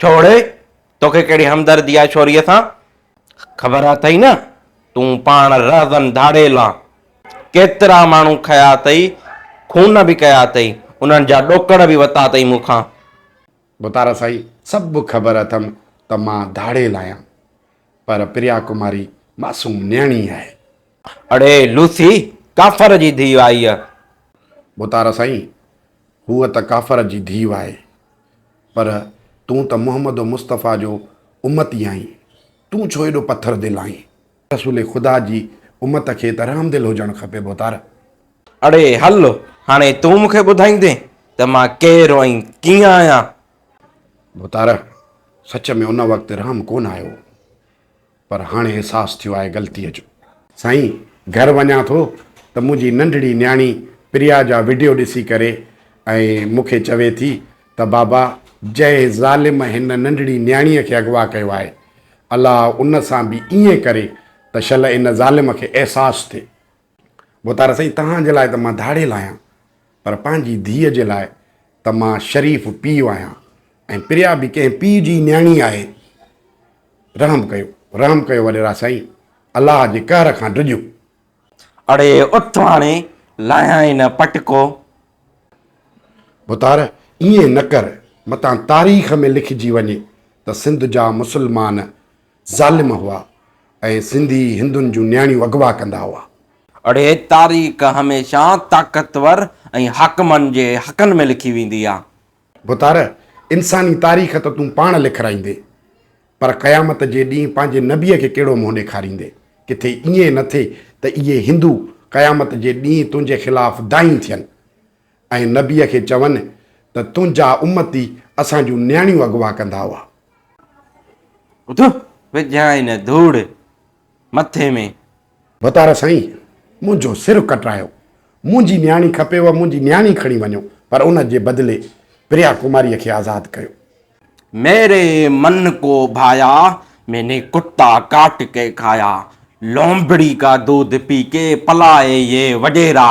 ڇوڙ، توکي ڪهڙي همدردي آهي ڇوريء سان؟ خبر اٿئي نه، تون پاڻ رهزن ڌاڙيل آن. ڪيترا ماڻهو کنيا اٿئي، خون به ڪيا اٿئي، انهن جا ڏوڪڙ به وتا اٿئي مون کان. ڀتارا سائين، سڀ خبر اٿم ته مان ڌاڙيل آهيان، پر پريا ڪماري معصوم نيڻي آهي. اڙي لوسي، ڪافر جي ڌيء آهي اها. ڀتارا سائين، هوء ته ڪافر جي ڌيء آهي، پر تون ته محمد و مصطفيٰ جو امتي آهين، تون ڇو ايڏو پٿر دل آهين؟ رسول خدا جي امت کي ته رحم دل هجڻ کپي ڀوتار. اڙي هل، هاڻي تون مون کي ٻڌائيندين ته مان ڪير ۽ ڪيئن آهيان؟ ڀوتار، سچ ۾ ان وقت رحم ڪونه آيو هو. پر هاڻي احساس ٿيو آهي غلطيء جو. سائين گهر وڃان ٿو ته منهنجي ننڍڙي نياڻي پريا جا وڊيو ڏسي ڪري ۽ مون کي چوي ٿي ته بابا جنهن ظالم هن ننڍڙي نياڻيء کي اغوا ڪيو آهي الله ان سان به ائين ڪري ته شل ان ظالم کي احساس ٿئي بوتارا سائين توهان جي لاء ته مان ڌاڙيل آهيان پر پنهنجي ڌيء جي لاء ته مان شريف پيء آهيان ۽ پريا به ڪنهن پيء جي ئي نياڻي آهي. رحم ڪيو رحم ڪيو وڏيرا سائين الله جي قهر کان ڊڄو. اڙي اٿ هاڻي لاهيائين نه پٽڪو. بوتار ائين نه ڪر متان تاريخ ۾ لکجي وڃي ته سنڌ جا مسلمان ظالم هئا ۽ سنڌي هندن جون نياڻيون اغوا ڪندا هئا. اڙي تاريخ هميشه طاقتور ۽ حاڪمن جي حقن ۾ لکي ويندي آ. بتار انساني تاريخ ته تون پاڻ لکرائيندي پر قيامت جي ڏينهن پنهنجي نبي کي ڪهڙو منهن ڏيکاريندي. ڪٿي ائين نه ٿئي ته اهي هندو قيامت جي ڏينهن تنهنجي خلاف دانهين ٿين. ۽ نبيء کي چون ته تنهنجا امتي اسان جون نياڻيون اغوا ڪندا هئا. اٿ، وجهائين ڌوڙ مٿي ۾. وتار سائين! منهنجو سر ڪٽرايو. منهنجي نياڻي کپيو، منهنجي نياڻي کڻي وڃو، پر ان جي بدلي پريا ڪماريء کي آزاد ڪيو. ميري من ڪو ڀايا، مين نے ڪتا ڪاٽ ڪي کايا، لومڙي ڪا دودھ پي ڪي پلائي يي وڏيرا.